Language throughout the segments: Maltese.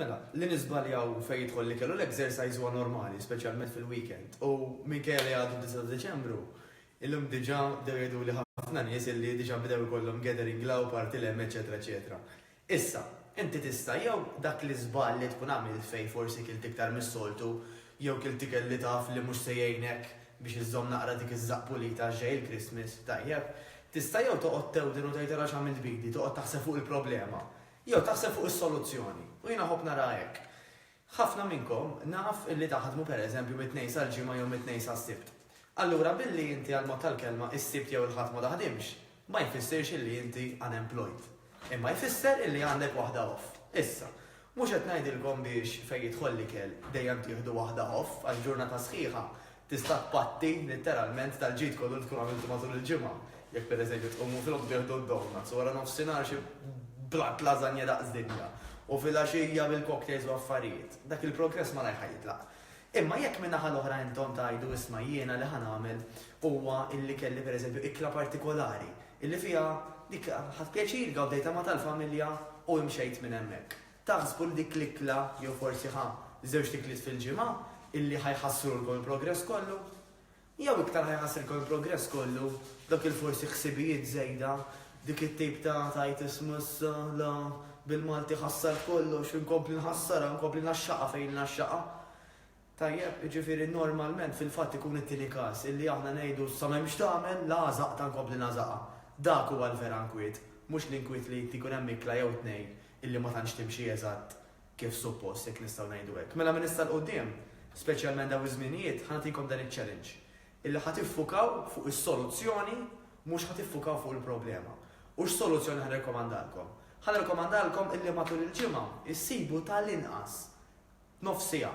Mela, li niżbaljaw fejn jidħol l-ikel u l-exercise huwa normali, speċjalment fil-weekend. U minkejja li għadu d-disa' ta' Diċembru, illum diġà bdew jgħiduli ħafna nies illi diġà bdew ikollhom gathering la u party lem eċċetera eċċetera. Issa, inti tista' jew dak l-iżball li tkun għamilt fejn forsi kilt iktar mis-soltu jew kilt ikel li taf li mhux se jgħinek biex iżżomm naqra dik iż-żaqq pulita għax ġej il-Christmas, tajjeb, Tista' jew toqgħod tewden u tgħid ara x'għamilt b'idi, toqgħod taħseb fuq il-problema, jew taħseb fuq is-soluzzjoni. U jiena nħobb nara hekk. Ħafna minnkom naf li taħdmu pereżempju mit-Tnejn sal-Ġimgħa jew mit-Tnejn sas-Sibt. Allura billi inti għall-mod tal-kelma s-Sibt jew il-Ħadd ma taħdimx, ma jfissirx illi inti unemployed. Imma jfisser illi għandek waħda off. Issa, mhux qed ngħidilkom biex fejn jidħol l-ikel dejjem tieħdu waħda off għax ġurnata sħiħa tista' tpatti litteralment tal-ġid kollu li tkun għamiltu matul il-ġimgħa. Jekk pereżempju tqumu filgħodu tieħdu d-donuts u wara nofsinhar xi blat lażanja daqs dinja u filgħaxija bil-cocktails u affarijiet, dak il-progress malajr ħa jitlaq. Imma jekk min-naħa l-oħra intom tgħidu, isma' jiena li ħa nagħmel huwa illi kelli per eżempju ikla partikolari illi fiha dik ħadt pjaċir, gawdejtha ma' tal-familja u imxejt minn hemmhekk. Taħsbu li dik l-ikla jew forsi ħa żewġt ikliet fil-ġimgħa illi ħa jħassrulkom il-progress kollu? Jew iktar ħa jħassrilkom il-progress kollu, dak il-forsi ħsibijiet żejda, dik it-tip ta' tgħid isma' issa, la, bil-Malti ħassar kollox, inkompli nħassarha, inkompli ngħaxxaqha fejn ngħaxxaqha. Tajjeb, jiġifieri normalment fil-fatt ikun it-tieni każ, illi aħna ngħidu sa m'hemm x'tagħmel, la għażaqtha nkompli ngħażaqha. Dak huwa l-vera nkwiet, mhux l-inkwiet li inti jkun hemm ikla jew tnejn illi ma tantx timxi eżatt, kif suppost, jekk nistgħu ngħidu hekk. Mela minn issa 'l quddiem, speċjalment dawn iż-żminijiet, ħa nagħtikom dan iċ-challenge, illi ħa tiffukaw fuq is-soluzzjoni mhux ħa tiffukaw fuq il-problema. U x'soluzzjoni ħa nirrekomandalkom? Ħa nirrekomandalkom illi matul il-ġimgħa issibu ta' l-inqas nofs siegħa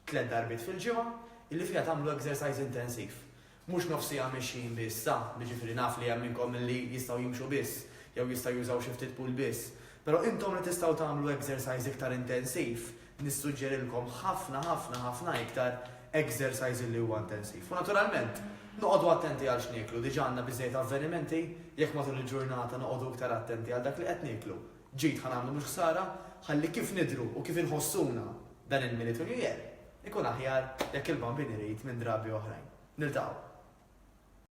tliet darbiet fil-ġimgħa illi fiha tagħmlu exercise intensiv. Mhux nofs siegħa mexjin biss, sa, jiġifieri naf li hemm minnkom li jistgħu jimxu biss, jew jistgħu jużaw xi ftit pool biss. Però intom li tistgħu tagħmlu exercise iktar intensiv, nissuġġerilkom ħafna ħafna ħafna iktar exercise li huwa intensiv. U naturalment, noqogħdu attenti għal x'nieklu, diġà għandna biżżejjed avvenimenti, jekk matul il-ġurnata noqogħdu iktar attenti għal dak li qed nieklu. Ġid ħa nagħmlu mhux ħsara, ħalli kif nidhru u kif inħossuna dan il-Militu New Year, Ikun aħjar jekk il-bambin irid minn drabi oħrajn. Niltaqgħu.